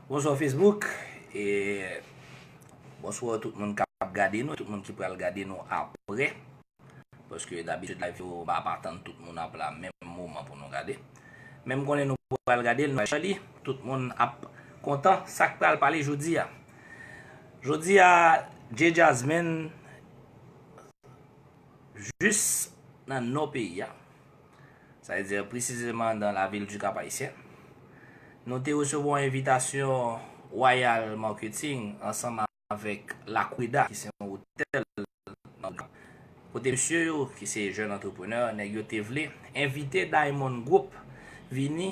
Bonswa Facebook e bonswa tout moun kap gade nou, tout moun ki pral gade nou apre. Paske dabitid live yo ba pa tann tout moun ap la menm moman pou nou gade. Menm konnen nou pral gade l, nou chè li, tout moun ap kontan sak pral pale jodi a. Jodi a J-Jasmine Jis nan nò peyi a, sa vle di presizeman nan lavil du Cap-Haïtien, nou te resevwa yon envitasyon Royal Marketing ansanm avèk L'Aqueda ki se yon otèl nan vil la, kote mesye yo ki se jèn antreprenè, nèg yo te vle envite Diamond Group vini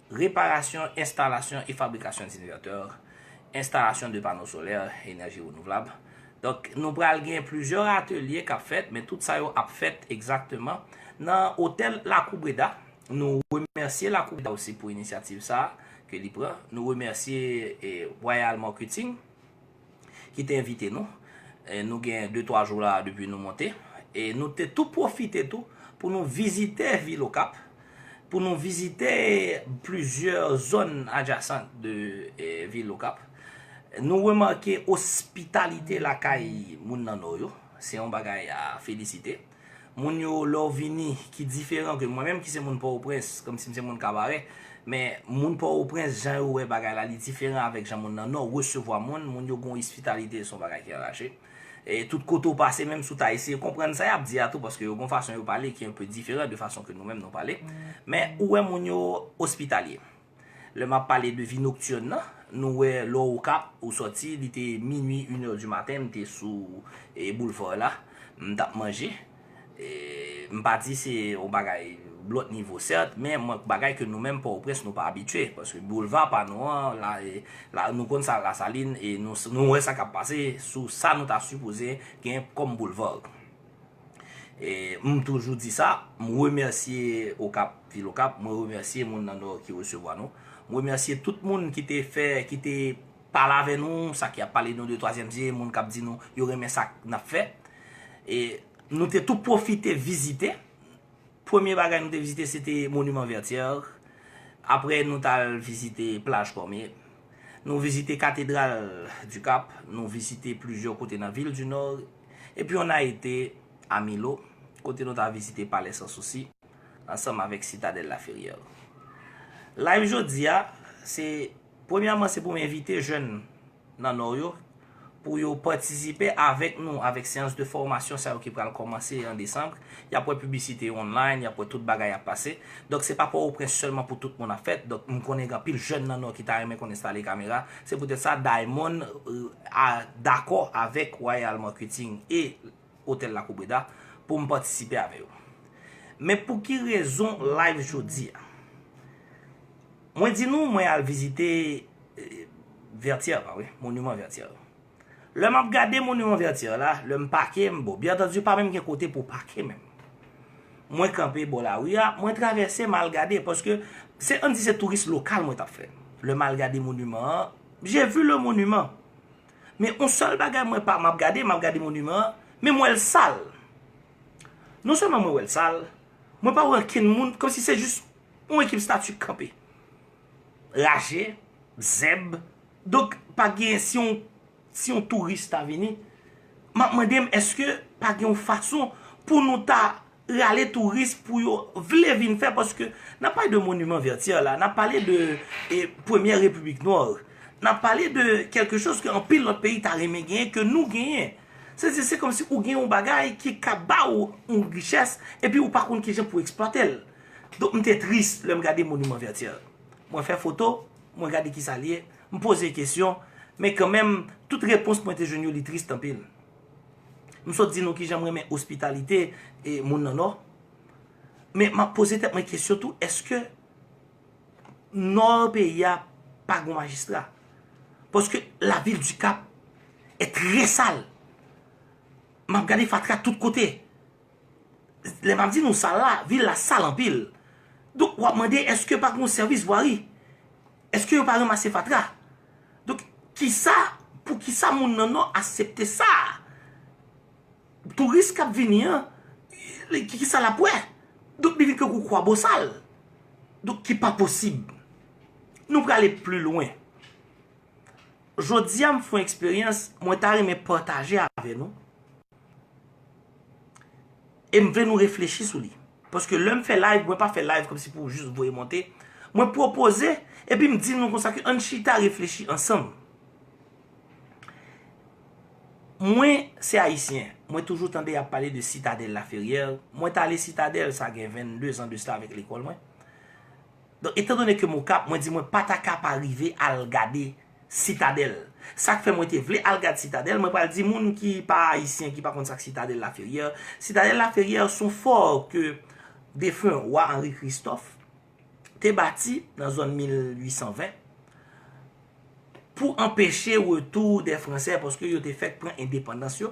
Reparasyon, enstalasyon e fabrikasyon d'invètè, enstalasyon de pano solè, enèji renouvlab. Donk, nou pral gen plizyè atelye k ap fèt, men tout sa yo ap fèt egzakteman nan otèl Lakou Breda. Nou remèsye Lakou Breda osi pou inisyativ sa a ke li pran. Nou remèsye Royal Marketing. ki te envite nou. Nou gen de twa jou la depi nou monte. E nou te tou pwofite tou pou nou vizite vil Okap, pou nou vizite plizyè zòn adjasant de vil Okap. Nou remake ospitalite lakay moun nan Nò yo. Se yon bagay a felisite. Moun yo lè w vini ki diferan ke mwen menm ki se moun Pòtoprens, kòm si m se moun Kabarè, men moun Pòtoprens jan yo wè bagay la li diferan avèk jan moun nan Nò resevwa moun, moun yo gen yon ospitalite se yon bagay ki anraje. Tout kote w pase menm si w ta eseye konprann sa y ap di a tou paske yo gen yon fason yo pale ki enpe diferan de fason ke nou menm nou pale, men ou wè moun yo ospitalye. Lè m ap pale de vi noktirn nan, nou wè lè w Okap, ou sòti, li te minui, in è di maten, m te sou boulvar la, m t ap manje. M pa di se yon bagay lòt nivo sèt, men yon bagay ke nou menm Pòtoprens nou pa abitye. Paske boulva pa nou an, la, nou konn sa Lasalin e nou wè sa k ap pase sou sa nou ta sipoze gen kòm boulvar. M toujou di sa, m remèsye Okap, vil Okap, mwen remèsye moun nan Nò ki resevwa nou. M remèsye tout moun ki te fè, ki te pale avè nou, sa ki ap pale nou de twazyèm zye, moun k ap di nou yo renmen sa n ap fè. E nou te tou pwofite vizite. Premye bagay nou te vizite se te Monument Vertière. Apre nou t al vizite Plaj Cormier. Nou vizite Cathédrale du Cap. Nou vizite plizyè kote nan vil du Nord. E pi on a ete a Milo, kote nou ta vizite Palè San Sousi, ansanm avèk Sitadèl La Ferrière. Live jodi a, se, premyèman se pou m envite jèn nan Nò yo, pou yo patisipe avèk nou, avèk seyans de fòmasyon sa yo ki pral kòmanse an Desanbre, Y ap wè piblisite yo online, y ap wè tout bagay ap pase. Donk se pa Pòtoprens sèlman pou tout moun ap fèt. Donk m konnen gen anpil jèn nan Nò ki ta renmen konn enstale kamera. Se poutèt sa Diamond a dakò avèk Royal Marketing e Otèl Lakou Breda pou m patisipe avè yo. Men pou ki rezon live jodi a? Mwen di nou mwen al vizite Vètyè pa vre? Moniman Vètyè. Lè map gade monument vertière la, lè m pake m bon, byen antandi pa menm gen kote pou pake menm. Mwen kanpe bò lari a, mwen travèse m al gade paske se ann di se touris lokal mwen tap fè. Lè m al gade monument an, je vu le monument. Men yon sèl bagay mwen pa map gade, map gade monument an, men m wè l sal. Non sèlman mwen wè l sal, mwen pa wè ankenn moun, kòm si se jis yon ekip stati k kanpe. Raje, zèb, Donk pa gen si yon si yon touris ta vini, m ap mande m èske pa gen yon fason pou nou ta rale touris pou yo vle vin fè paske n ap pale de moniman Vertyè la, n ap pale de premyè repiblik nò, n ap pale de kèlke choz ke anpil lòt peyi ta renmen genyen ke nou genyen. Sa vle di se kòmsi ou gen yon bagay ki ka ba ou yon richès epi ou pa konn kijan pou eksplwate l. Donk m te tris lè m gade moniman Vertyè. Mwen fè foto, Mwen gade kisa li ye, m poze kesyon, men kanmenm tout repons mwen te jwenn yo li trist anpil. M sot di nou kijan m renmen ospitalite moun nan Nò, men m ap poze tèt mwen kesyon tou eske Nò peyi a pa gon majistra? Paske la vil di Kap è trè sal. M ap gade fatra tout kote. Lè map di nou sal la, vil la sal anpil. Donk wap mande eske pa gen yon sèvis vwari? Eske yo pa ranmase fatra? Donk kisa, pou kisa moun nan nò asepte sa? Touris kap vini an, kisa lap wè? Donk li vin tankou kwabosal. Donk ki pa posib. Nou prale pli lwen. Jodi a m fon eksperyans mwen ta renmen pataje avè nou. E m vle nou reflechi sou li. Paske lè m fè live, mwen pa fè live kòm si pou jis voye monte. Mwen pwopoze, epi m di nou konsa ke ann chita reflechi ansanm. Mwen se Ayisyen. Mwen toujou tande y ap pale de Sitadèl Laferyè. Mwen t ale Sitadèl sa gen 22 zan de sa avèk lekòl mwen. Donk etan done ke m Okap, mwen di mwen pa ta ka pa rive al gade Sitadèl. Sa k fè mwen te vle al gad Sitadèl, mwen pral di moun ki pa Ayisyen, ki pa konn sa k Sitadèl Laferyè. Sitadèl Laferyè s on fò ke defen Wa Anri Kristòf te bati nan zòn 1820 pou anpeche retou dè Fransè paske yo te fèk pran endepandans yo.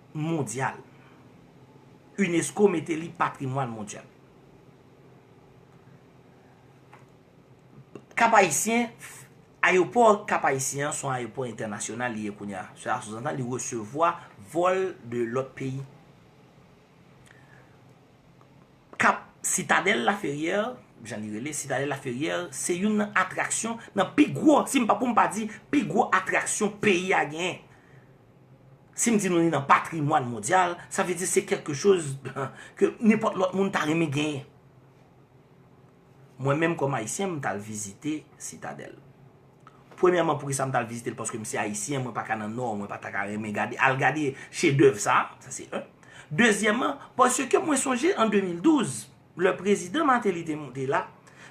mondyal. Unesco mete li patrimwàn mondyal. Kap Ayisyen, ayopò Kap Ayisyen an son ayopò entènasyonal li ye kounye a. Sè a souzantan li resevwa vòl de lòt peyi. Kap Sitadèl Laferyè, jan li rele, Sitadèl Laferyè, se youn nan atraksyon, nan pi gwo, si m pa poum pa di, pi gwo atraksyon peyi a genyen. Si m di nou li nan patrimwàn mondyal, sa vle di se kèlke choz ke nenpòt lòt moun ta renmen genyen. Mwen menm kòm Ayisyen, m t al vizite Sitadèl. Premyèman, poukisa m t al vizite l? Paske m se Ayisyen, mwen pa ka nan Nò, mwen pa ta ka renmen gade, al gade chedèv sa a, sa se 1. Dezyèman, paske mwen sonje an 2012, Lè prezidan Martelly te monte la,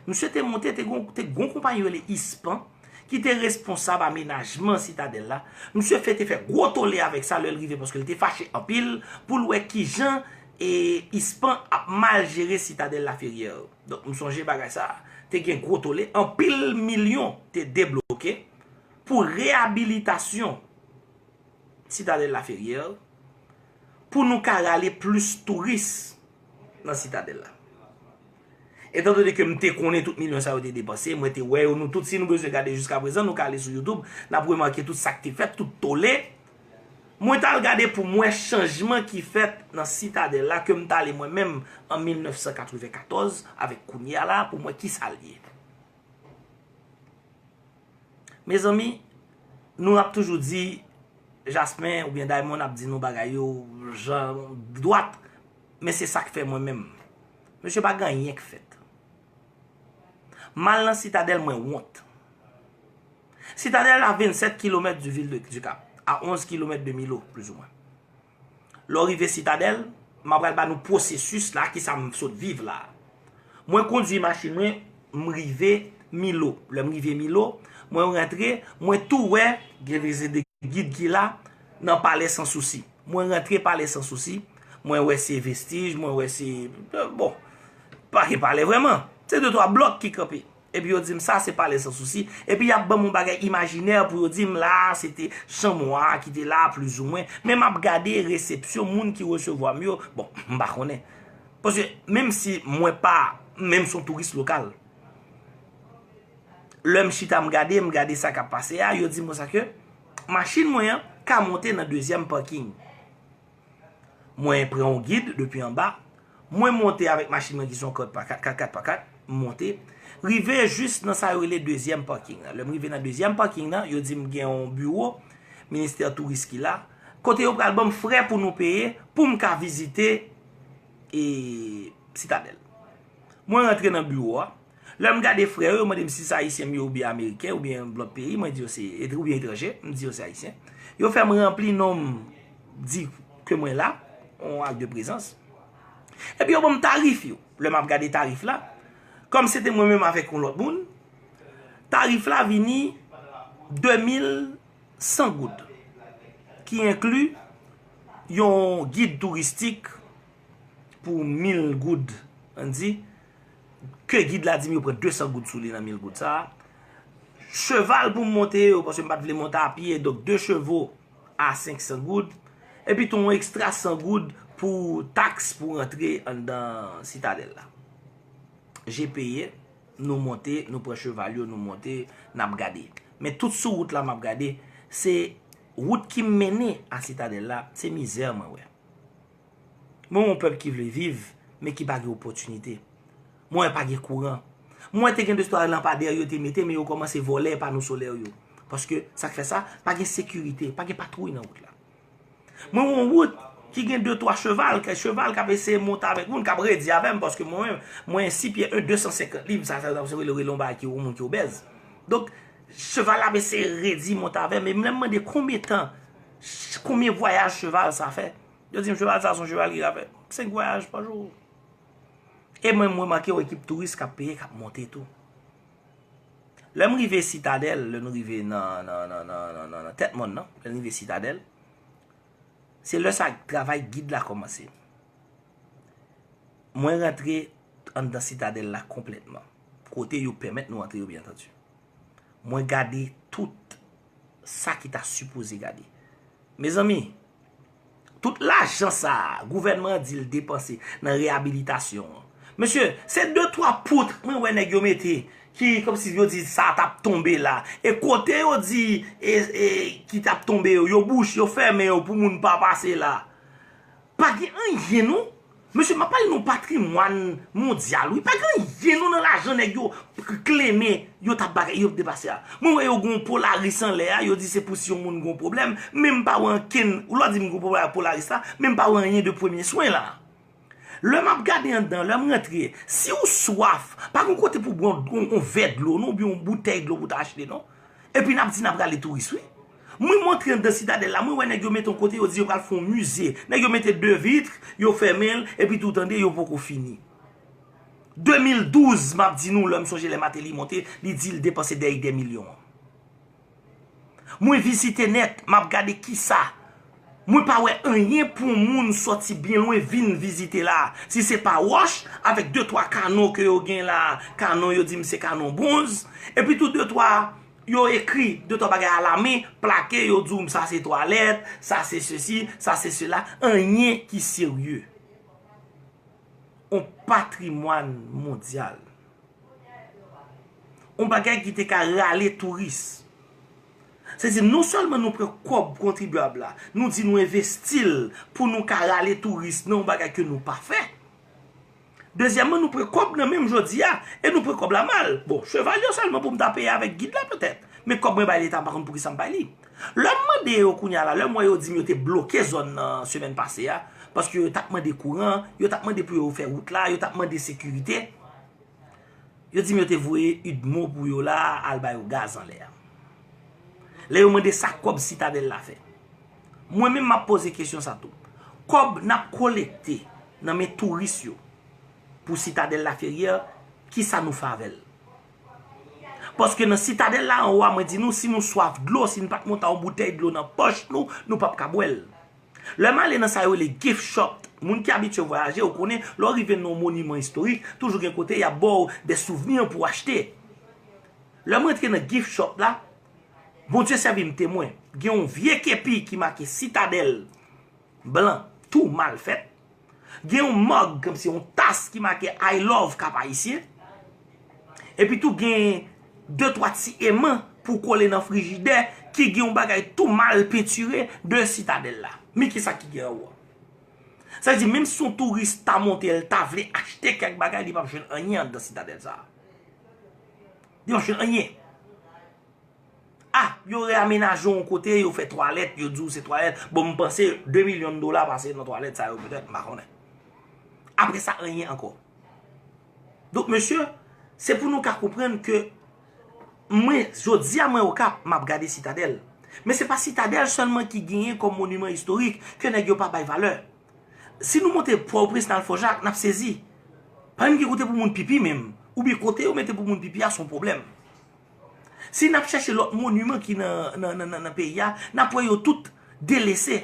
misye te monte te gon te gon konpayi rele Ispan ki te responsab amenajman sitadèl la, misye fè te fè gwo tole avèk sa lè l rive paske l te fache anpil pou l wè kijan e Ispan ap mal jere sitadèl Laferyè. Donk m sonje bagay sa te gen gwo tole, anpil milyon te debloke pou reyabilitasyon sitadèl Laferyè pou nou ka rale plis touris. nan sitadèl la. Etan done ke m te konnen tout milyon sa yo te depanse, mwen te wè yo nou tout, si nou bezwen gade jiska prezan, nou ka ale sou YouTube, n ap remake tout sa k te fèt, tout tole. Mwen t al gade pou m wè chanjman ki fèt nan sitadèl la ke m t ale mwen menm an 1994 avèk kounye a la pou m wè ki sa l ye. Mezanmi nou ap toujou di jasmin oubyen Diamond ap di nou bagay yo jan dwat men se sak fè mwen menm mesye pa gen anyen k fèt m al nan sitadèl mwen wont sitadèl a 27 kilomèt di vil de dikap a 11 kilomèt de milo plizoumwen. Lè w rive Sitadèl, m apral ba nou pwosesis la, kisa m sot viv la. Mwen kondui machin mwen, m rive Milo. Lè m rive Milo, mwen rantre, mwen tou wè gen vizit de gid ki la nan Palè San Sousi. Mwen rantre Palè San Sousi, mwen wè se vestij, mwen wè se, bon, pa gen palè vrèman. Se de twa blòk ki kanpe. Epi yo di m sa se pale san sousi. Epi y ap ban m yon bagay imajinè pou yo di m la a se te chanm wa a ki te la a plizoumwen. Men m ap gade resepsyon moun ki resevwa m yo. Bon, m pa konnen. Paske menm si mwen pa, menm si yon touris lokal, lè m chita m gade, m gade sa k ap pase a, yo di m konsa ke machin mwen an ka monte nan dezyèm paking. Mwen pran yon gid depi anba. Mwen monte avèk machin mwen ki se yon 4x4, 4x4, 4x4. M monte. Rive jis nan sa yo rele dezyèm paking nan. Lè m rive nan dezyèm paking nan, yo di m gen yon biwo ministè touris ki la. Kote yo pral ban m frè pou nou peye pou m ka vizite sitadèl. Mwen rantre nan biwo a. Lè m gade frè yo, yo mande m si se Ayisyen m ye oubyen Ameriken oubyen lòt peyi, mwen di yo se, oubyen etranje, m di yo se Ayisyen. Yo fè m ranpli non m, di ke mwen la, yon ak de prezans. Epi yo ban m tarif yo. Lè m ap gade tarif la, kòm se te mwen menm avèk yon lòt moun, tarif la vini 2100 goud. Ki enkli yon gid touristik pou 1000 goud, an di. ke gid la di m yo pran 200 goud sou li nan 1000 goud sa a. Cheval pou m monte yo, paske m pa t vle monte a pye, donk 2 chevo a 500 goud. Epi tou yon ekstra 100 goud pou taks pou rantre anndan sitadèl la. Je peye, nou monte, nou pran cheval yo, nou monte, n ap gade. Men tout sou wout la m ap gade, se wout ki mennen a sitadèl la, se mizè mwen wè. Mwen wè yon pèp ki vle viv, men ki pa gen opòtinite. Mwen wè pa gen kouran. Mwen wè te gen de istwa lanpadè yo te mete, men yo kòmanse vòlè pano solè yo. Paske, sa k fè sa, pa gen sekirite, pa gen patwouy nan wout la. Mwen wè yon wout ki gen de twa cheval, kèk cheval k ap eseye monte avèk moun, k ap redi avè m, paske mwen menm, mwen yon si pye 1, 250 liv, sa sa yo rele yon bagay ki yon moun ki obèz. Donk, cheval la ap eseye redi monte avè m, e m lè m mande konbyen tan, Konbyen vwayaj cheval sa fè? Yo di m cheval sa son cheval ki ka fè 5 vwayaj pa jou. E mwen m remake yon ekip touris kap peye kap monte tou. Lè m rive sitadèl, lè nou rive nan tèt mòn nan, lè nou rive sitadèl, se lè sa travay gid la kòmanse. Mwen rantre anndan sitadèl la konplètman. Kote yo pèmèt nou antre yo byen antanti. Mwen gade tout. sa ki ta sipoze gade. Mezanmi, tout lajan sa a, gouvènman an di l depanse nan reyabilitasyon an. Mesye, se de twa poutre mwen wè nèg yo mete, ki kòm si yo di sa a t ap tonbe la. E kote yo di ki t ap tonbe yo, yo bouche, yo fèmen yo pou moun pa pase la. Pa gen anyen non. Mesye map pale nou patrimwan mondyal wi pa gen anyen non nan lajan nèg yo kleme yo ta bagay yo depase a mwen wè yo gen yon polaris anlè a yo di se pou si yon moun gen yon pwoblèm men m pa wè ankenn ou lò di m gen yon pwoblèm ak polaris la men m pa wè anyen de premye swen la lè map gade anndan lè m rantre si ou swaf pa gen yon kote pou bwè yon vè dlo non oubyen yon boutèy dlo pou ta achte non epi nap di nap rale touris wi. Mwen montre anndan sitadèl la, mwen wè nèg yo mete yon kote yo di yo pral fè yon mize. Nèg yo mete 2 vitre, yo fèmen l, epi tou tande yo poko fini. 2012 map di nou la m sonje lè Mateli monte li di l depanse dèy dè milyon. Mwen vizite nèt, map gade kisa. Mwen pa wè anyen pou yon moun sòti byen lwen vin vizite la. Si se pa wòch, avèk 2 twa kanon ke yo gen la, kanon yo di m se kanon bronz, epi tou 2 twa. Yo ekri de twa bagay alamen, plake yo di w sa se twalèt, sa se sesi, sa se sela, anyen ki serye. On patrimwàn mondyal. On bagay ki te ka rale touris. Se di non sèlman nou pran kòb kontribyab la, nou di nou envesti l pou nou ka rale touris nan on bagay ke nou pa fè. Dezyèmman nou pran kòb nan menm jodi a e nou pran kòb la mal. Bon, cheval yo sèlman pou m ta peye avèk gid la petèt. Men kòb mwen bay leta m pa konn pou kisa m bay li. Lè m mande yo kounye a la, lè m wè yo di m yo te bloke zòn nan semèn pase a, paske yo t ap mande kouran, yo t ap mande pou yo fè wout la, yo t ap mande sekirite, yo di m yo te voye udmo pou yo la al ba yo gaz anlè a. Lè yo mande sa kòb sitadèl la fè. Mwen menm map poze kesyon sa tou. Kòb nap kolekte nan men touris yo pou sitadèl la feryè, ki sa nou fè avèl? Paske nan sitadèl la anwa mwen di nou si nou swaf dlo, si nou pat monta yon boutèy dlo nan pòch nou, nou pap ka bwèl. Lè m ale nan sa yo rele gift shop, moun ki abitye vwayaje ou konnen lè ou rive nan yon moniman istorik, toujou gen kote yap baw de souvni pou achte. Lè m rantre nan gift shop la, Bondye sèvi m temwen, gen yon vye kepi ki make sitadèl blan tou mal fèt, gen yon mòg kòmsi yon tas ki make I love kap ayisyen, epi tou gen de twa ti eman pou kole nan frijidè ki gen yon bagay tou mal pentire de sitadèl la. Men ki sa ki gen anwo. Sa vle di menm si yon touris ta monte l ta vle achte kèk bagay li pap jwenn anyen anndan sitadèl sa. Yo fè anyen. A, yo reamenaje yon kote, yo fè twalèt, yo di ou se twalèt. Bon, m panse 2 milyon dola pase nan twalèt sa yo petèt, m pa konnen. Apre sa, anyen ankò. Donk, mesye, se pou nou ka konprann ke mwen, jodi a mwen okap, m ap gade sitadèl. Men se pa sitadèl sèlman ki genyen kòm moniman istorik ke nèg yo pa bay valè. Si nou monte pò ou prens nal fò jak nap sezi pa menm gen kote pou moun pipi menm ou byen kote yo mete pou moun pipi a son pwoblèm si nap chache lòt moniman ki nan peyi a nap wè yo tout delese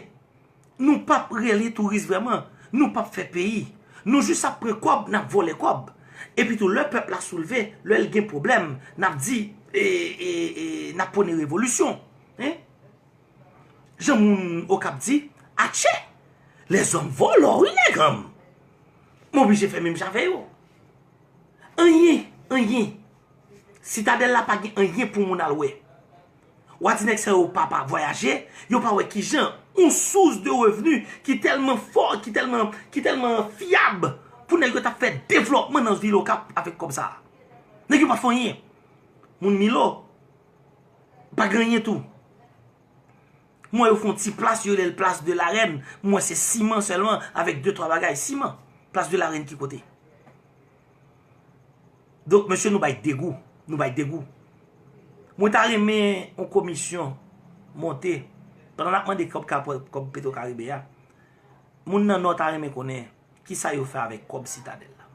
nou pap rele touris vreman nou pap fè peyi nou jis ap pran kòb nap vòlè kòb epi tou lè pèp la soulve lèl gen pwoblèm nap di eee nap pwone revolisyon. Jan moun okap di atche lèzòm vòlò wi nèganm m oblije fè menm jan avè yo anyen anyen sitadèl la pa gen anyen pou moun al wè wa di nèg sa yo pa pa vwayaje yo pa wè kijan yon sous de revni ki tèlman fò ki tèlman ki tèlman fyab pou nèg yo ta fè devlòpman nan vil okap avèk kòb sa nèg yo pa fè anyen moun milo. Pa gen anyen tou. Mwen yo fon ti plas yo rele plas de la rèn. Mwen wè se siman sèlman avèk de twa bagay. Siman. Plas de la rèn ki kote. Donk mesye nou bay degou. Nou bay degou. Mwen ta renmen yon komisyon monte. Pandan nan mande kòb ka kòb petro karibe ya. Moun nan nò ta renmen konnen. Ki sa yo fè avèk kòb sitadèl la.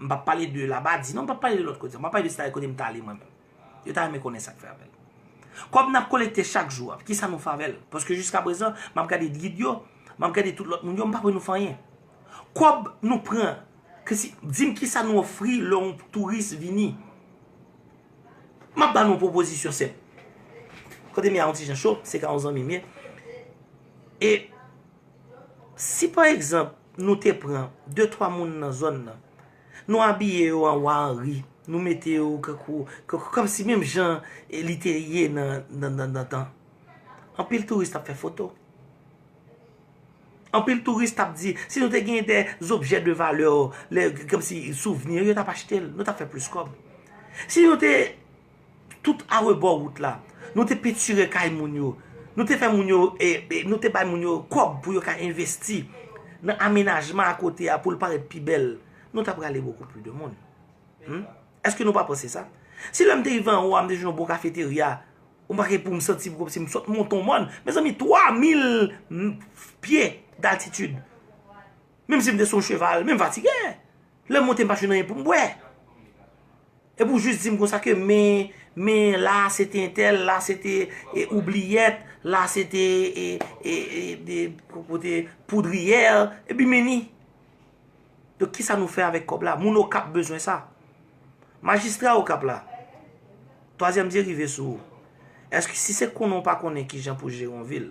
M pa pale de la badi. Non m pa pale de lòt kote. M pa pale de sitadèl kote m ta ale mwen menm. Yo ta renmen konnen sak fè avèl. Kòb nap kolekte chak jou a, kisa nou fè avèl? Paske jiska prezan, map gade gid yo, map gade tout lòt moun yo, m pa wè nou fè anyen. Kòb nou pran, dim kisa nou ofri lè yon touris vini. Map ba nou yon pwopozisyon senp. Kote m ye a yon ti jan cho, se ka yon zanmi m ye. E, si pa egzanp, nou te pran 2, 3 moun nan zòn nan, Nou abiye yo an wa anri, nou mete yo kankou, kankou kòm si menm jan e li te ye nan, nan, nan dantan. Anpil touris tap fè foto. Anpil touris tap di, si nou te gen de zobjè de valè o, le, kòm si souvni, yo tap achte l, nou tap fè plis kòb. Si nou te Tout arebò wout la. Nou te pentire kay moun yo. Nou te fè moun yo, nou te bay moun yo kòb pou yo ka envesti nan amenajman a kote a pou l parèt pi bèl. Nou ta prale bokou pli de moun. Eske nou pa panse sa? Si lè m te rive anwo a m te jwenn yon bon kafeterya, m pa gen pou m santi m kòm si m sot monte yon mòn. Mezanmi 3000 pye d'altitude. Menm si m te sou yon cheval, men m fatige. Lè m monte m pa jwenn anyen pou m bwè. Epi w jis di m konsa ke men, men la a se te entèl, la se te oubliyèt, la se te poudriyè, epi meni. Donk ki sa nou fè avèk kòb la? Moun Okap bezwen sa. Majistra Okap la, twazyèm zye rive sou ou. Eske si se konnen ou pa konnen ki jan pou jere yon vil,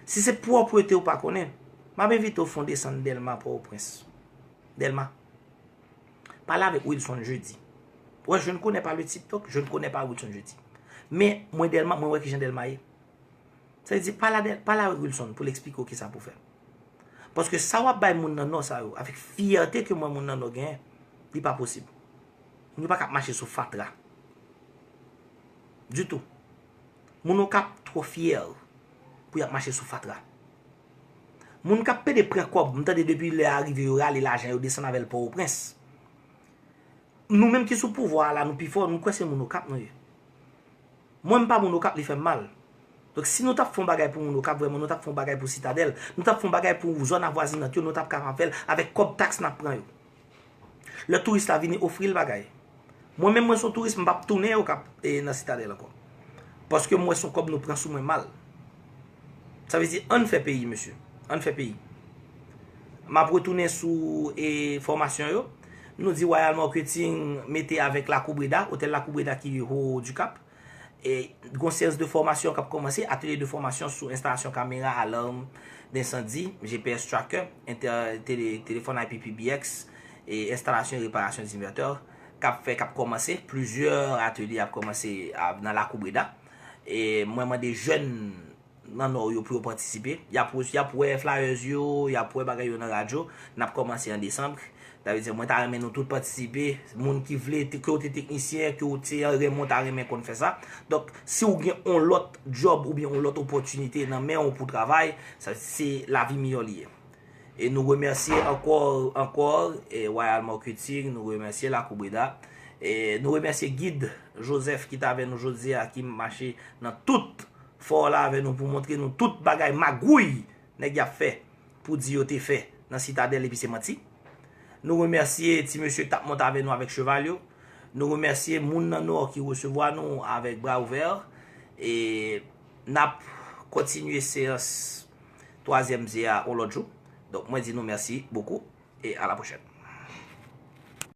si se pwòpwete ou pa konnen, m ap envite ou fè yon desann Dèlma Pòtoprens. Delma. Pale avèk Wilson Jeudi. Wè, je ne connais pas le type donc, je ne connais pas Wilson Jeudi. Men, mwen Delma, mwen wè ki jan Delma ye. Sa vle di, pale avèk Wilson pou l'explike ou ki sa pou fè. Paske sa wap bay moun nan Nò sa yo, avèk fyète ke mwen moun nan Nò genyen, li pa posib. Moun yo pa ka ap mache sou fatra. Ditou. Moun Okap twò fyè pou yap mache sou fatra. Moun kap pede pran kòb, m tande depi lè a rive yo rale lajan yo desann avèl pòoprens. Nou menm ki sou pouvwa a la nou pi fò, m kwè se moun okap nou ye. Mwen m pa moun okap li fèm mal. Donk si nou tap fon bagay pou moun okap vrèman nou tap fon bagay pou sitadèl, nou tap fon bagay pou zòn avwazinant yo nou tap kapab fèl avèk kòb taks nap pran yo. Lè touris la vini ofri l bagay. Mwen menm mwen son touris m pap tounen okap e nan sitadèl ankò. Paske m wè son kòb nou pran sou mwen mal. Sa vle di ann fè peyi mesye. Ann fè peyi. M ap retounen sou e fòmasyon yo. Nou di Royal Marketing mete avèk Lakou Breda, otèl Lakou Breda ki ho du cap. Gon seyans de fòmasyon kap kòmanse, atelye de fòmasyon sou enstalasyon kamera alarm d'incendie, GPS tracker, telefòn IP PBX, enstalasyon e reparasyon d'inverter kap fè kap kòmanse, plizyè atelye ap kòmanse nan lakou Breda. Mwen mande jèn nan Nò yo pou yo patisipe. Y ap y ap wè flyers yo, y ap wè bagay yo nan radyo. N ap kòmanse an desanm. Sa vle di mwen ta renmen nou tout patisipe. Moun ki vle, ke ou te teknisyen, ke ou te anyen, mwen ta renmen konn fè sa. Donk, si ou gen yon lòt djòb oubyen yon lòt opòtinite nan men ou pou travay, sa vle di se lavi miyò li ye. E nou remèsye ankò, ankò, Royal Marketing, nou remèsye Lakou Breda. E nou remèsye Gid Joseph ki t avè nou jodi a, ki mache nan tout. Fò w la avè nou pou w montre nou tout bagay magouy nèg y ap fè pou di yo te fè nan Sitadèl epi se manti. Nou remèsye ti mesye k t ap monte avè nou avèk cheval yo. Nou remèsye moun nan Nò ki resevwa nou avèk bra ouvè. E n ap kontinye seyans twazyèm ze a yon lòt jou. Donk mwen di nou mèsi bokou e alapwochèn.